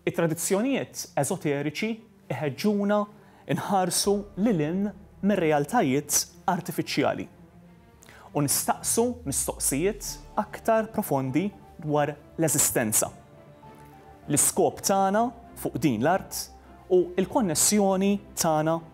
It-tradizzjonijiet eżoteriċi jħeġġuna nħarsu lil hinn mir-realtajiet artifiċjali u nistaqsu mistoqsijiet aktar profondi dwar l-eżistenza, l-iskop tagħna fuq din l-art u l-konnessjoni tagħna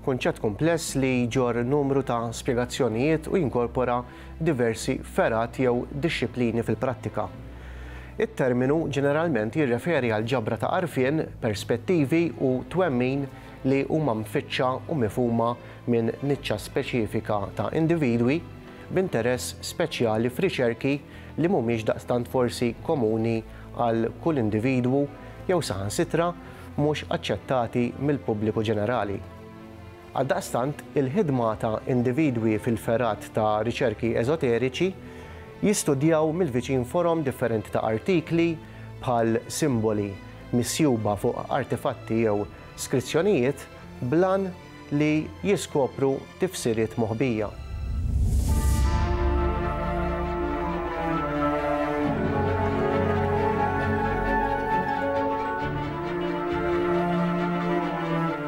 Kunċett kumpless li jġorr numru ta' spjegazzjonijiet u jinkorpora diversi fergħat jew dixxiplini fil-prattika. It-terminu ġeneralment jirreferi għal ġabra ta' għarfien, perspettivi u twemmin li huma mfittxa u mifhuma minn niċċa speċifika ta' individwi b'interess speċjali f'riċerki li mhumiex daqstant forsi komuni għal kull individwu jew saħansitra mhux aċċettati mill-pubbliku ġenerali. Għaldaqstant, il-ħidma ta' individwi fil-fergħat ta' riċerki eżoteriċi jistudjaw mill-viċin forom differenti ta' artikli, bħal simboli misjuba fuq artefatti jew skrizzjonijiet, bl-għan, li jiskopru tifsiriet moħbija.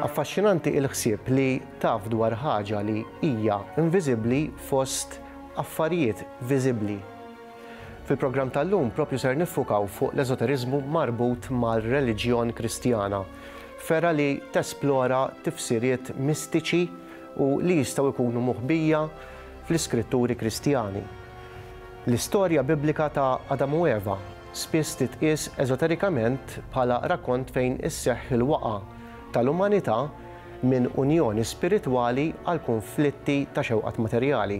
Affaxxinanti il-ħsieb li taf dwar ħaġa li hija inviżibbli fost affarijiet viżibbli. Fil-programm tal-lum proprju ser niffukaw fuq l-eżoteriżmu marbut mar-reliġjon Kristjana, fergħa li tesplora tifsiriet mistiċi u li jistgħu jkunu moħbija fl-iskritturi Kristjani. L-istorja Biblika ta' Adam u Eva spiss titqies eżoterikament bħala rakkont fejn isseħħ il-waqgħa tal-umanità minn unjoni spiritwali għal kunflitti ta' xewqat materjali.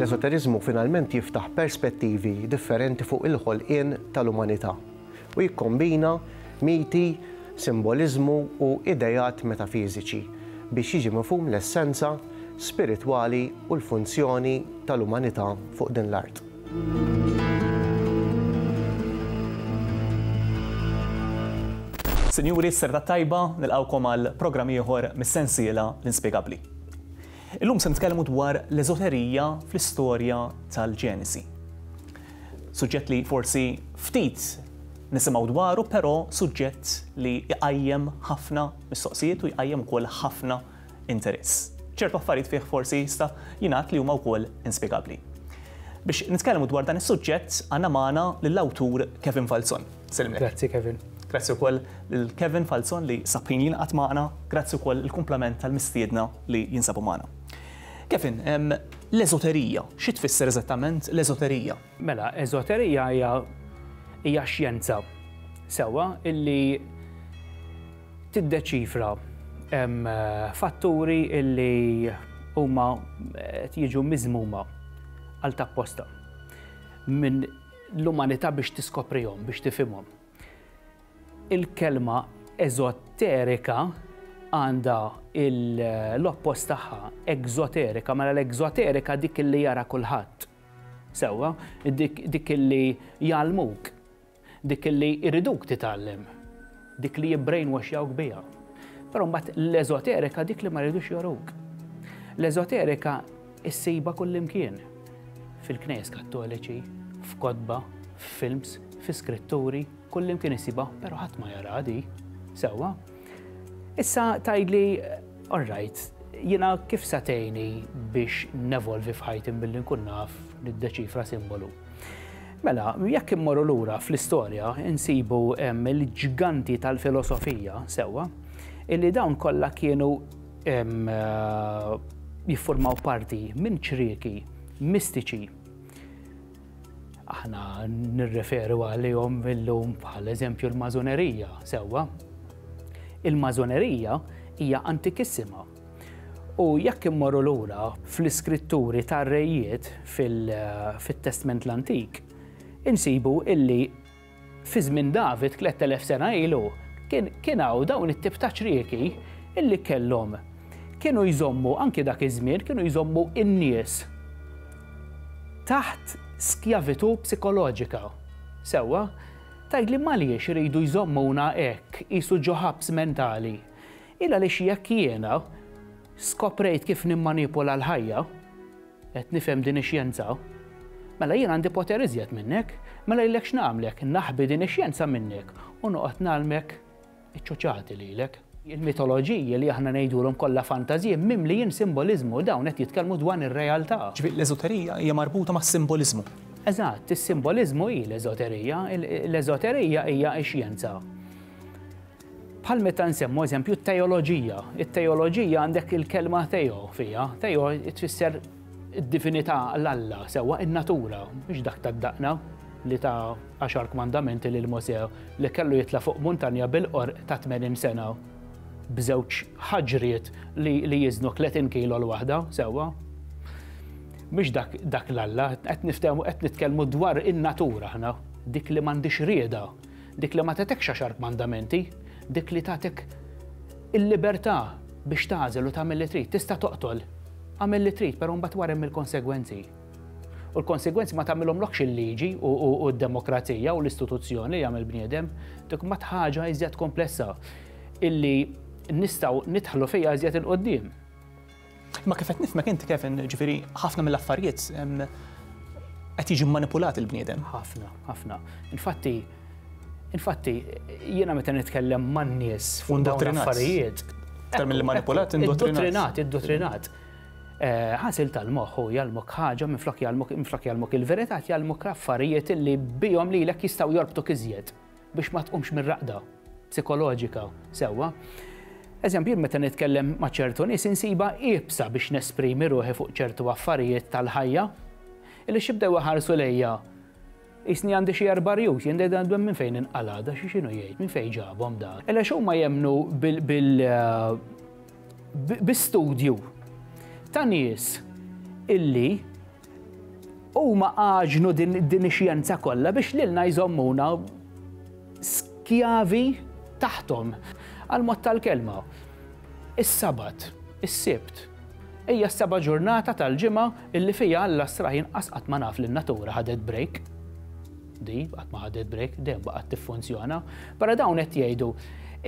L-eżoteriżmu finalment jiftaħ perspettivi differenti fuq il-ħolqien tal-umanità u jikkombina miti, simboliżmu u ideat metafiżiċi biex jiġi mifhum l-essenza spiritwali u l-funzjoni tal-umanità fuq din l-art. Sinjuri, s-serta t-tajba, nilqgħukom għal programm ieħor mis-sensiela L-Inspjegabbli. Illum se nitkellmu dwar l-eżoterija fl-istorja tal-Ġenesi. Suġġett li forsi ftit nisimgħu dwaru, però suġġett li jqajjem ħafna mistoqsijiet u jqajjem ukoll ħafna interess. Ċertu affarijiet fih forsi jista' jingħad li huma wkoll inspjegabbli. Biex nitkellmu dwar dan is-suġġett għandna magħna lill-awtur Kevin Falzon. Sellimlek. Grazzi Kevin. Grazzi wkoll lil Kevin Falzon li sab ħin jingħaqad magħna, grazzi wkoll il-kumplament tal-mistiedna li jinsabu magħna. Kevin, l-eżoterija, xi tfisser eżattament l-eżoterija? Mela, eżoterija hija hija xjenza sewwa illi tiddeċifra fatturi illi huma qed jiġu miżmuma għal tapposta minn l-umanità biex tiskoprihom, biex tifhimhom. Il-kelma eżoterika għandha l-oppost tagħha, egżoterika, mela l-egżoterika dik illi jara kulħadd. Sewwa, dik li jgħallmuk, dik li jriduk titgħallem, dik li jibbrainwashjawk biha. Però mbagħad l-eżoterika dik li ma jridux joruk. L-eżoterika issiba kullimkien fil-knejs kattoliċi, f'kotba, f'films, fi skritturi, kullimkien issiba, però ħadd ma jara di. Sewwa, Issa tgħidli, all right, jiena kif sa tgħinni biex nevolvi f'ħajti billi nkun naf niddeċifra simbolu? Mela, jekk immorru lura fl-istorja, insibu l-ġganti tal-filosofija, sewwa, illi dawn kollha kienu jiffurmaw parti minn ċrieki mistiċi Aħna nirreferu għalihom illum bħal eżempju l-mażonerija, sewwa. Il-mażonerija hija antikissima. U jekk immorru lura fl-iskritturi tar-rejiet fit-Testment l-Antik, insibu illi Fi żmien David, tlett elef sena ilu, kien kien hawn dawn it-tip ta' ċrieki illi kellhom kienu jżommu anki dak iż-żmien kienu jżommu n-nies taħt skjavitu psikoloġika. Sewwa? Tgħidli m'għaliex iridu jżommuna hekk qisu ġo ħabs mentali? Illa għaliex jekk jiena skoprejt kif nimmanipula l-ħajja, Qed nifhem din ix-xjenza? Mela jien għandi poter iżjed minnek, mela jillek x'nagħmlek, naħbi din ix-xjenza minnek u noqgħod ngħallmek iċ-ċuċati lilek. Il-mitoloġiji li aħna ngħidulhom kollha fantażji mimlijin simboliżmu, dawn qed jitkellmu dwan ir-realtà. Ġifieri l-eżoterija hija marbuta mas-simboliżmu. Eżatt, is-simboliżmu hi l-eżoterija, l-eżoterija hija x-xjenza. Bħal meta nsemmu eżempju t-teoloġija. It-teoloġija għandek il-kelma teo fiha. Teo tfisser id-divinità l-Alla, sewwa in-natura, mhux dak tad-daqna li ta' għaxar kmandamenti lil Mosè li kellu jitla' fuq muntanja bil-qorq ta' tmenin sena b'żewġ ħaġriet li jiżnu tletin kilo l-waħda, sewwa. Mhux dak l-Alla, qed nitkellmu dwar in-natura aħna, dik li m'għandhiex rieda, Dik li ma tagħtekx għaxar kmandamenti, dik li tagħtik il-libertà biex tagħżel u tagħmel li trid. Tista' toqtol, agħmel li trid, però mbagħad wara hemm il-konsegwenzi. U l-konsegwenzi ma tagħmilhomlokx il-liġi u d-demokrazija u l-istituzzjoni li jagħmel bniedem, dik mbagħad ħaġa iżjed komplessa illi nistgħu nidħlu fiha iżjed 'il quddiem. Imma kif qed nifhmek inti Kevin, ġifieri ħafna mill-affarijiet qed jiġi manipulat il-bniedem. Ħafna, ħafna. Infatti, infatti, jiena meta nitkellem man-nies fuq dawn l-affarijiet. Aktar mill manipulat, indottrinat. Indottrinat, eh, Ħasil tal-moħħ u jgħalmok ħaġa minn flok jgħalmok il-verità jgħalmok l-affarijiet li bihom lilek jistgħu jorbtu kiżjed. biex ma tqumx mir-raqda psikoloġika sewwa. Eżempju, meta nitkellem ma' ċertu nies insibha iebsa biex nesprimi ruħi fuq ċertu affarijiet tal-ħajja, illi xibdew iħarsu lejja jisni għandi xi erba' rjus, jien dejda għandhom minn fejn inqala, da xi xinu jgħid, minn fejn ġabhom da. Illa xumma jemnu bil-studju eh, ta' nies illi Huma għaġnu din ix-xjenza kollha biex lilna jżommuna skjavi taħthom. Għal mod tal-kelma, is-Sabat, is-Sibt, hija s-seba' ġurnata tal-ġimgħa illi fiha Alla sraħ inqas qatt ma naf li n-natura ħadet break. Di qatt ma ħadet break, dejjem baqgħet tiffunzjona. Però dawn qed jgħidu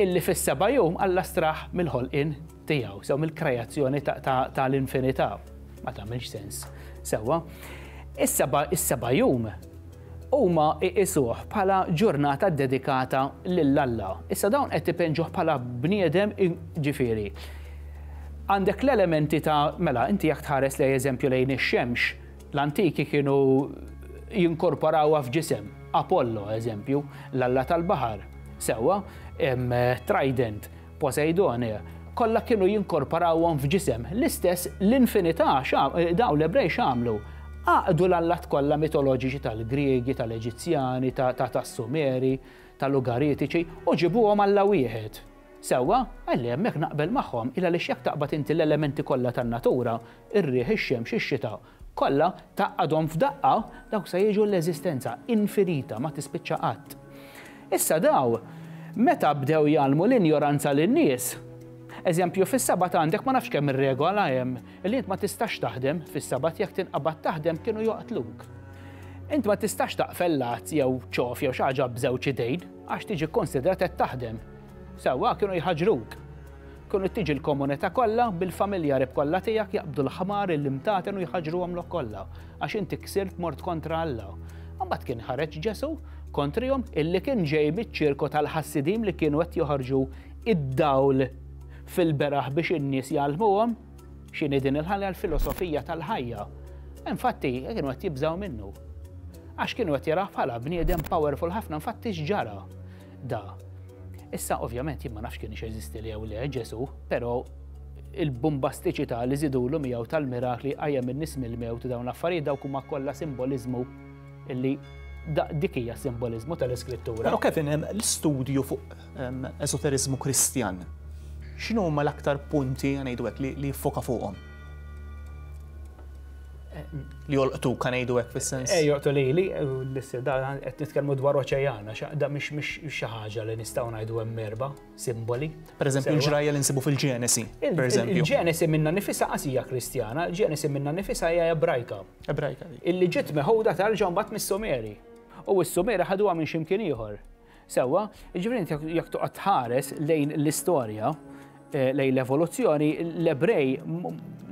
illi fis-seba' jum Alla straħ mill-ħolqien tiegħu, sew mill-kreazzjoni ta' l-infinità. Ma tagħmilx sens. Sewwa. Is-seba' is-seba' jum huma iqisuh bħala ġurnata ddedikata lil Alla. Issa dawn qed ipenġuh bħala bniedem ġifieri. Għandek l-elementi ta' mela inti jekk tħares lej eżempju lejn ix-xemx, l-antiki kienu jinkorporawha f'ġisem. Apollo, eżempju, l-alla tal-baħar, sewwa, trident, Poseidone, kollha kienu jinkorporawhom f'ġisem, l-istess l-infinità dawn l-Ebrej x'għamlu? Għaqdu l-allat kollha mitoloġiċi tal-Griegi, tal-Eġizzjani, tas-Sumeri, tal-Ugaritiċi u ġibuhom Alla wieħed. Sewwa, għalli hemmhekk naqbel magħhom, il għaliex jekk taqbad inti l-elementi kollha tan-natura, ir-riħ, ix-xemx, ix-xita, Kollha, tgħaqqadhom f'daqqa, dawk se jiġu l-eżistenza infinita, ma tispiċċa qatt. Issa daw, meta bdew jgħallmu l-injoranza lin-nies, eżempju, fis-Sabat għandek ma nafx kemm-il regola hemm, li int ma tistax taħdem fis-Sabat, jekk tinqabad taħdem kienu joqtluk. Int ma tistax taqfel lat jew ċof jew xi ħaġa b'żewġ idejn, għax tiġi kkunsidrat qed taħdem. Sewwa kienu jħaġġruk. Kienu tiġi l-komunità kollha bil-familja qrib kollha tiegħek jaqbdu l-ħmar illi mtaten u jħaġġruhom lok kollha għax inti ksirt mort kontra Alla. Imbagħad kien ħareġ Ġesù kontrihom illi kien ġej miċ-ċirku tal-ħassiedin li kienu qed joħorġu id-dawl fil-beraħ biex in-nies jgħallmuhom x'inhi din il-ħajja l-filosofija tal-ħajja. Infatti kienu qed jibżgħu minnu. Għax kienu qed jaraħ bħala bniedem powerful ħafna infatti x'ġara. Da. Issa ovvjament jien ma nafx kien jeżisti li jew le Ġesu, però il-bumbastiċità li żidulu miegħu tal-mirakli qajjem in-nies mill-mewt dawn l-affarijiet dawk huma kollha simboliżmu illi dik hija simboliżmu tal-iskrittura. Però Kevin hemm l-istudju fuq ehm, esoteriżmu Kristjan. X'inhu huma l-aktar punti ngħidu hekk li jiffoka fuqhom? li jolqtu kan ngħidu hekk fis-sens. Eh, joqtu lili, l-issir da qed nitkellmu dwar oċeana, xaqda mhix mhix xi ħaġa li nistgħu ngħidu hemm erba' simboli. Pereżempju l-ġrajja li nsibu fil-Ġenesi, pereżempju. Il-Ġenesi minna nifisa qasija Kristjana, il-Ġenesi minna nifisa hija Ebrajka. Ebrajka. Illi ġiet meħuda tal-ġambat mis-Sumeri. U s-Sumeri ħaduha minn ximkien ieħor. Sewwa, jiġifieri inti jekk toqgħod tħares lejn l-istorja, eh, lejn l-evoluzzjoni, l-Ebrej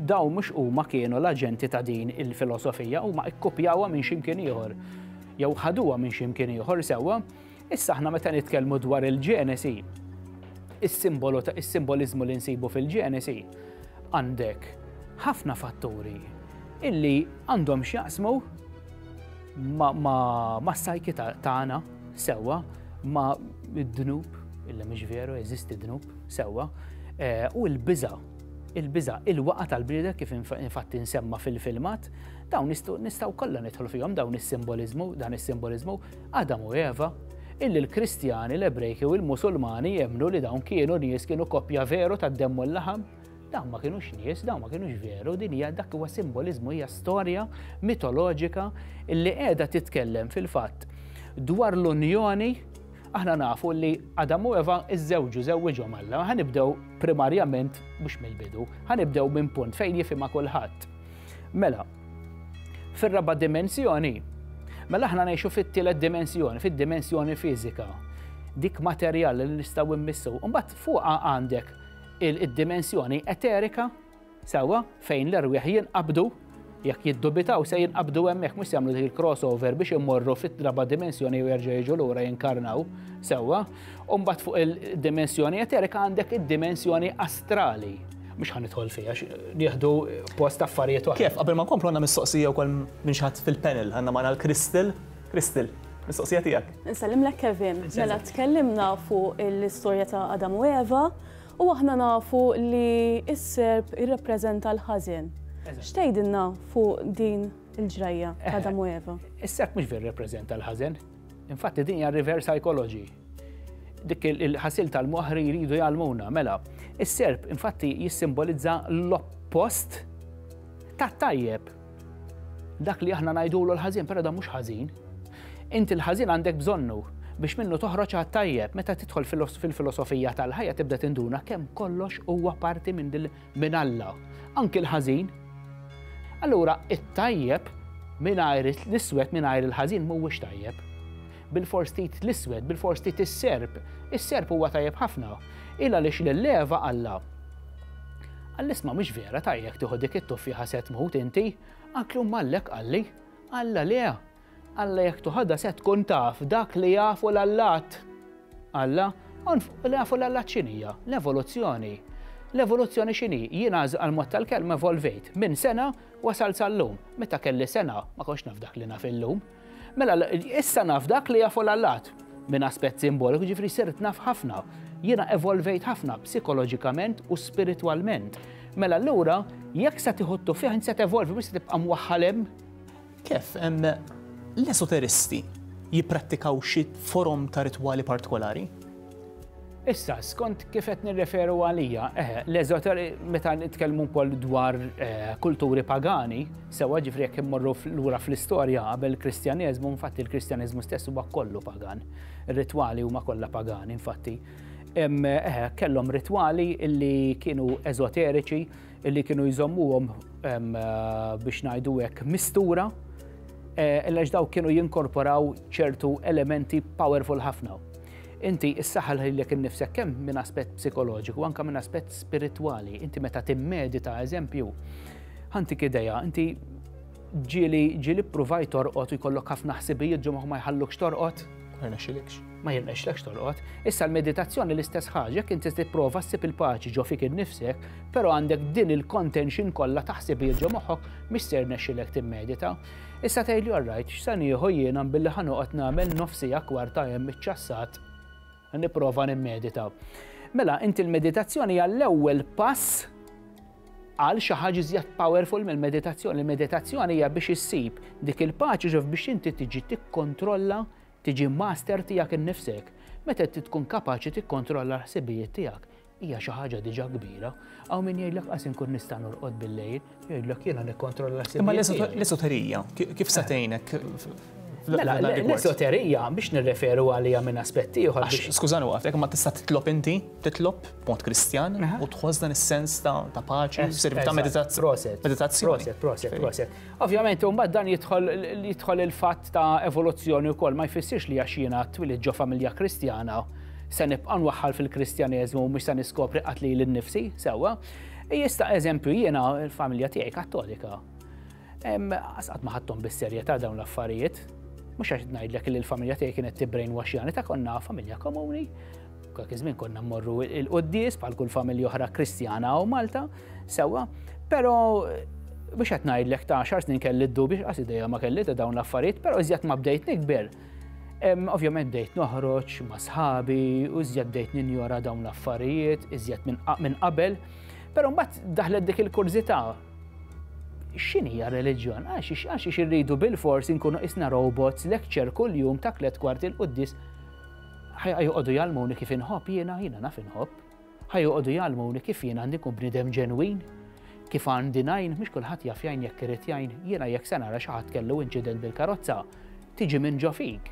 daw mhux huma kienu l-aġenti ta' din il-filosofija, huma ikkupjawha minn ximkien ieħor. Jew ħaduha minn ximkien ieħor sewwa. Issa aħna meta nitkellmu dwar il-Ġenesi, is-simbolu ta' is-simboliżmu li nsibu fil-Ġenesi għandek ħafna fatturi illi għandhom x'jaqsmu ma' s-sajki tagħna. Sewwa, ma d-dnub, illa mhix veru, eżisti dnub, sewwa, eh, u l-biża, il-biża, il-waqa tal-bnieda kif infatti nsemma fil-filmat, dawn nistgħu kollha nidħlu fihom dawn is-simboliżmu, dan is-simboliżmu, Adam u Eva, illi l-Kristjani, l-Ebrejki u l-Musulmani jemnu li dawn kienu nies kienu koppja veru tad-demm u l-laħam, Dawn ma kinux nies, dawn ma kinux veru, din hija dak huwa simboliżmu hija storja mitoloġika li qiegħda titkellem fil-fatt dwar l-unjoni aħna nafu li Adam u Eva iżżewġu żewwiġhom Alla. Ħanibdew primarjament mhux mill-bidu, ħanibdew minn punt fejn jifhimha kulħadd. Mela, fir-raba' dimensjoni, mela aħna ngħixu fit-tielet dimensjoni, fid-dimensjoni fiżika, dik materjali li nistgħu mmissu. Mbagħad fuqha għandek il-dimensjoni eterika, sewwa, fejn l-erwieħ jinqabdu, jekk jiddubitaw se jinqabdu hemmhekk mhux jagħmlu dik il-crossover biex immorru fit-traba dimensjoni u jerġa' jiġu lura jinkarnaw sewwa. U mbagħad fuq il-dimensjoni eterika għandek id-dimensjoni astrali. Mhux ħan idħol fiha nieħdu post affarijiet oħra. Kif qabel ma nkomplu għandna mistoqsija wkoll minn xi ħadd fil-panel għandna magħna l-Crystal Crystal, mistoqsija tiegħek. Insellimlek Kevin, mela tkellimna fuq l-istorja ta' Adam u Eva u aħna nafu li s-serp irrappreżenta l-ħażen. X'tgħidilna fuq din il-ġrajja eh, Adam u Eva? Is-serp mhux ver rappreżenta l-ħażen. Infatti din hija reverse psychology dik il-ħasil tal-moħri jridu jgħalmuna. Mela, is-serp infatti jissimbolizza l-oppost ta' tajjeb. Dak li aħna ngħidulu l-ħażin, però dan mhux ħażin. Inti l-ħażin għandek bżonnu biex minnu toħroġ għat-tajjeb. Meta tidħol fil-filosofija tal-ħajja tibda tinduna kemm kollox huwa parti minn dil minn Alla. Anki l-ħażin. Allura it-tajjeb mingħajr l-iswed mingħajr il-ħażin mhuwiex tajjeb. Bilfors trid l-iswed, bilfors trid is-serp. Is-serp huwa tajjeb ħafna. Il għaliex lil Eva qalla. Għall-isma mhux vera tajjeb tieħu dik it-tuffieħa se tmut inti, anki huma għallek qalli. Alla le. Alla jekk tuħadha se tkun taf dak li jafu l-allat. Alla, li jafu l-allat xinija, l-evoluzzjoni. L-evoluzzjoni xini, jien għal mod tal-kelma evolvejt, minn sena wasal sal-lum, meta kelli sena ma konx naf dak li naf illum. Mela, issa naf dak li jafu l-allat minn aspett simboliku, ġifri sirt naf ħafna. Jiena evolvejt ħafna psikoloġikament u spiritualment. Mela l-ura, jekk se tiħottu fih, se tevolvi, mhux se tibqa' mwaħħalem. Kif l-esoteristi jipprattikaw xi forom ta' ritwali partikolari? Issa, skont kif qed nirreferu għalija, eh, l-eżoter meta nitkellmu wkoll dwar eh, kulturi pagani, sewwa ġifri jekk immorru lura fl-istorja qabel il-Kristjaneżmu, infatti il-Kristjaneżmu stess huwa kollu pagan. Ir-ritwali huma kollha pagani, infatti. Eh, kellhom ritwali illi kienu eżoteriċi, illi kienu jżommuhom biex ngħidu hekk mistura, għax daw kienu jinkorporaw ċertu elementi powerful ħafna Inti ssaħħal lilek innifsek kemm minn aspett psikoloġiku anke minn aspett spiritwali. Inti meta timmedita eżempju, ħantik idea, inti ġieli ġieli ppruvajt torqod u jkollok ħafna ħsibijiet ġo ma jħallukx torqod? Ma jirnexxilekx. Ma jirnexxilekx torqod. Issa l-meditazzjoni l-istess ħaġa, jekk inti tipprova ssib il-paċi ġo fik innifsek, però għandek din il-contention kollha ta' ħsibijiet ġo moħħok mhix se jirnexxilek timmedita. Issa tgħidli all right, x'se nieħu jiena billi ħa noqgħod nagħmel nofs siegħa kwarta hemm iċ-ċassat? Nipprova nimmedita. Mela, inti l-meditazzjoni hija l-ewwel pass għal xi ħaġa iżjed powerful mill-meditazzjoni. Il-meditazzjoni hija biex issib dik il-paċi ġof biex inti tiġi tikkontrolla, tiġi master tiegħek innifsek. Meta tkun kapaċi tikkontrolla l-ħsibijiet tiegħek, hija xi ħaġa diġà kbira, hawn min jgħidlek qas inkun nista' norqod bil-lejl, jgħidlek jiena nikkontrolla s Imma l-esoterija, kif se tgħinek? Mela, l-esoterija biex nirreferu għalija minn aspett ieħor. Skużani waqfek, ma tista' titlob inti, titlob mod kristjan u tħoss dan is-sens ta' paċi, servizz ta' meditazzjoni. Proset, proset, proset. Ovvjament, mbagħad dan jidħol il-fatt ta' evoluzzjoni wkoll ma jfissirx li għax jiena twilid ġo familja Kristjana se nibqa' nwaħħal fil-Kristjaneżmu mhux se niskopri qatt lili nnifsi, sewwa. Jista' eżempju jiena l-familja tiegħi Kattolika. Asqat ma ħadthom bis-serjetà dawn l-affarijiet. Mhux għax ngħidlek li l-familja tiegħi kienet tibbrejn waxjani ta' konna familja komuni. Dak iż-żmien konna mmorru il-quddies bħal kull familja oħra Kristjana u Malta, sewwa, però biex qed ngħidlek ta' xar snin kelli d-dubi x'qas idea ma kelli ta' dawn l-affarijiet, però iżjed ma bdejt nikber. Ovvjament bdejt noħroġ ma' sħabi u iżjed bdejt ninjora dawn l-affarijiet, iżjed minn qabel, però mbagħad daħlet dik il-kurżità x'inhija reliġjon? Għax irridu bil-fors inkunu isna robots lecture kuljum ta' tliet kwarti l-quddis Ħa joqogħdu jgħallmuni kif inħobb jiena, jiena naf inħobb. Ħa joqogħdu jgħallmuni kif jiena għandi nkun bniedem ġenwin, kif għandi ngħin, mhux kulħadd jaf jgħin jekk irid jgħin, jiena jekk se nara xi ħadd kellu inċident bil-karozza, tiġi minn ġo fik.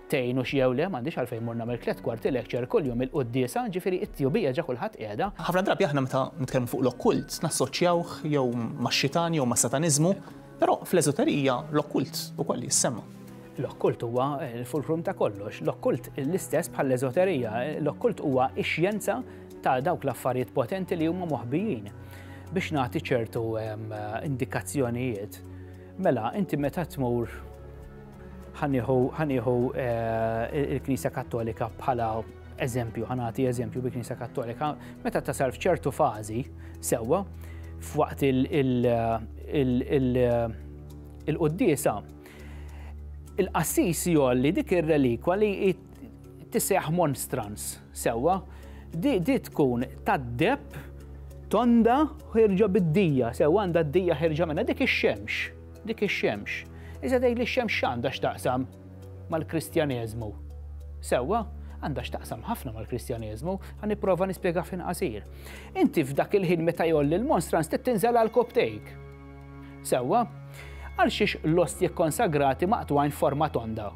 Tgħinu x'jew le, m'għandix għalfejn mur nagħmel tliet kwarti lecture kuljum il-quddiesa, ġifieri it-tjubija ġa kulħadd qiegħda. Ħafna drabi aħna meta nitkellmu fuq l-okkult nassoċjawh jew max-xitan jew mas-sataniżmu, Però fl-eżoterija l-okkult ukoll jissemma. L-okkult huwa l-fulkrum ta' kollox. L-okkult l-istess bħall-eżoterija. L-okkult huwa x-xjenza ta' dawk l-affarijiet potenti li huma moħbijin. Biex nagħti ċertu indikazzjonijiet, mela inti meta tmur Ħanieħu il-Knisja Kattolika bħala eżempju, ħanati eżempju bi Knisja Kattolika, meta tasal f'ċertu fażi sewwa f'waqt il-qoddisa il-qassis jolli dik ir-relikwa li tiseħ monstrans sewwa di tkun tad-deb tonda ħirġa bid-dija, sew għandha d-dija ħirġa minna dik ix-xemx. Dik ix-xemx. Iżda tgħidli x-xemx x'għandha x'taqsam mal-Kristjaneżmu? Sewwa, għandha x'taqsam ħafna mal-Kristjaneżmu, ħa nipprova nispjega fil-qasir. Inti f'dak il-ħin meta jolli l-monstrans trid tinżel għal koptejk. Sewwa, għal xiex l-ostji kkonsagrati maqtwajn forma tonda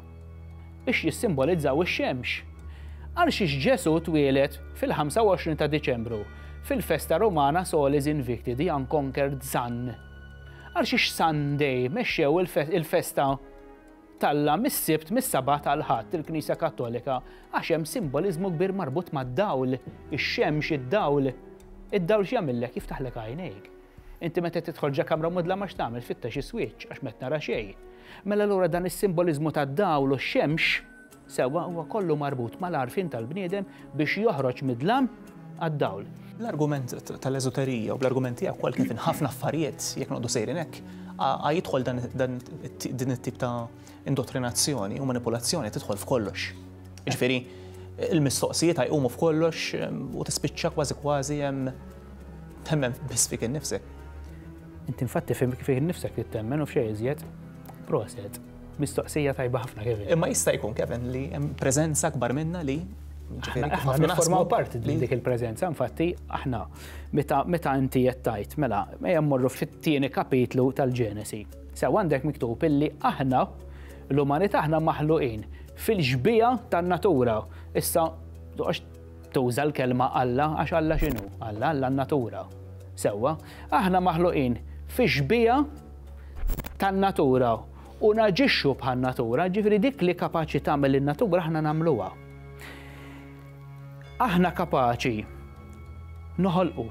biex jissimbolizzaw ix-xemx. Għal xiex Ġesu twieled fil-25 ta' Diċembru fil-festa Romana Solis Invicti di Unconquered Sun. Għal xiex Sunday mexxew il-festa talla mis-sibt mis-sabat għal ħadd il-Knisja Kattolika għax hemm simboliżmu kbir marbut mad-dawl, ix-xemx, id-dawl. Id-dawl x'jagħmillek jiftaħlek għajnejk. Inti meta tidħol ġa kamra mudla ma x'tagħmel fittex is-swieċ għax met nara xejn. Mela lura dan is-simboliżmu tad-dawl u x-xemx Sewwa, huwa kollu marbut mal-għarfien tal-bniedem biex joħroġ mid-dlam għad-dawl. Bl-argument tal-eżoterija u bl-argument tiegħek ukoll kif in ħafna affarijiet jekk noqogħdu sejrin hekk, a jidħol din it-tip ta' indottrinazzjoni u manipulazzjoni tidħol f'kollox. Ġifieri, il-mistoqsijiet jqumu f'kollox ehm, u tispiċċa kważi kważi hemm temmen biss fik innifsek. Inti infatti fik innifsek li temmen u f'xejn iżjed. Proset. Mistoqsija tajba ħafna Kevin. Imma jista' jkun Kevin li hemm preżenza akbar minna li Aħna nifformaw parti li dik il-preżenza, infatti aħna meta inti qed tajt mela ejja mmorru fit-tieni kapitlu tal-Ġenesi. Sew għandek miktub illi aħna l-umanità aħna maħluqin fil-ġbija tan-natura. Issa tuża l-kelma Alla għax Alla x'inhu? Alla Alla n-natura. Sewwa, aħna maħluqin fi ġbija tan-natura u naġixxu bħan-natura, ġifieri dik li kapaċi tagħmel in-natura aħna nagħmluha. Aħna kapaċi noħolqu.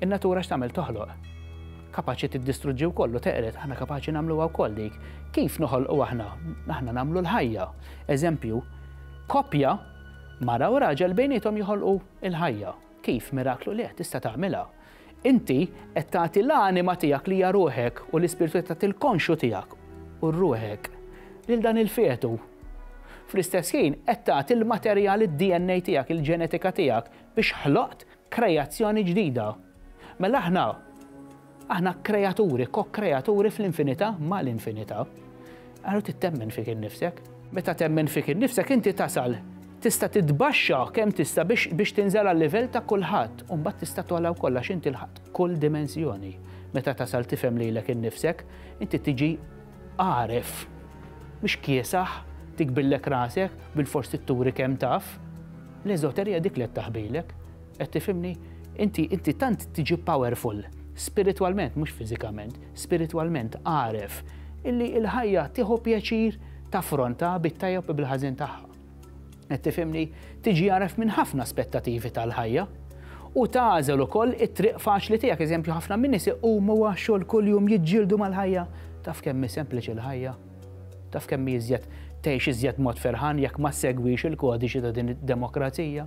In-natura x'tagħmel toħloq. Kapaċi tiddistruġġi wkoll u teqred, aħna kapaċi nagħmluha wkoll dik. Kif noħolqu aħna? Aħna nagħmlu l-ħajja. Eżempju, koppja mara u raġel bejnietom joħolqu l-ħajja. Kif miraklu li tista' tagħmilha? Inti qed tagħti l-anima tiegħek li hija ruħek u l-ispirtu qed tagħti l-konxju tiegħek u ruħek lil dan il-fetu. Fl-istess ħin qed tagħti l-materjal id-DNA tiegħek, il-ġenetika tiegħek biex ħloqt kreazzjoni ġdida. Mela aħna aħna kreaturi, ko-kreaturi fl-infinità ma' l-infinità. Għarru tittemmen fik innifsek. Meta temmen fik innifsek inti tasal Tista' titbaxxa kemm tista' biex biex tinżel għal-livell ta' kulħadd u mbagħad tista' togħla wkoll għax inti lħaqt kull dimensjoni. Meta tasal tifhem lilek innifsek, inti tiġi għaref. Mhux kiesaħ, tikbillek rasek, bilfors trid turi kemm taf. L-eżoterija hi dik li qed taħbilek. Qed tifhimni? Inti inti tant tiġi powerful, spiritwalment mhux fiżikament, spiritwalment għaref, illi l-ħajja tieħu pjaċir taffrontha bit-tajjeb u bil-ħażin tagħha. Qed tifhimni? Tiġi għaref minn ħafna aspettativi tal-ħajja u tagħżel ukoll it-triq faċli tiegħek. Eżempju, ħafna minn nies iqumu għax-xogħol kuljum jiġġieldu mal-ħajja. Taf kemm hi sempliċi l-ħajja? Taf kemm hi iżjed tgħix iżjed mod ferħan jekk ma segwix il-kodiċi ta' din id-demokrazija?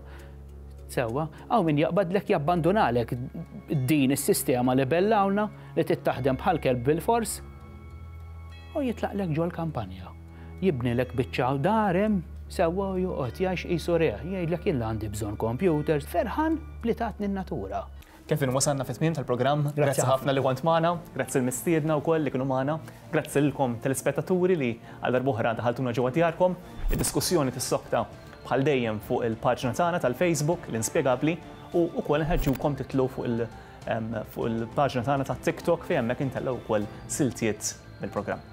Sewwa, hawn min jaqbadlek jabbandunalek din is-sistema li bellawna li tittaħdem bħal kelb bil-fors u jitlaqlek ġol kampanja. Jibnilek biċċa dar hemm sewwa u joqgħod jgħix qisu rehgħa. Jgħidlek jien la għandi bżonn kompjuters. Ferħan b'li tatni n-natura. Kevin, wasalna fit-tmiem tal-programm. Grazzi ħafna li kont magħna. Grazzi l-mistiedna wkoll li kienu magħna. Grazzi lilkom telespettaturi li għal darb'oħra daħaltuna ġewwa djarkom. Id-diskussjoni tissokta bħal dejjem fuq il-paġna tagħna tal-Facebook, l-Inspjegabbli, u wkoll inħeġġukom titlu fuq il- fuq il-paġna tagħna tat-TikTok fejn hemmhekk intellgħu wkoll siltiet mill-programm.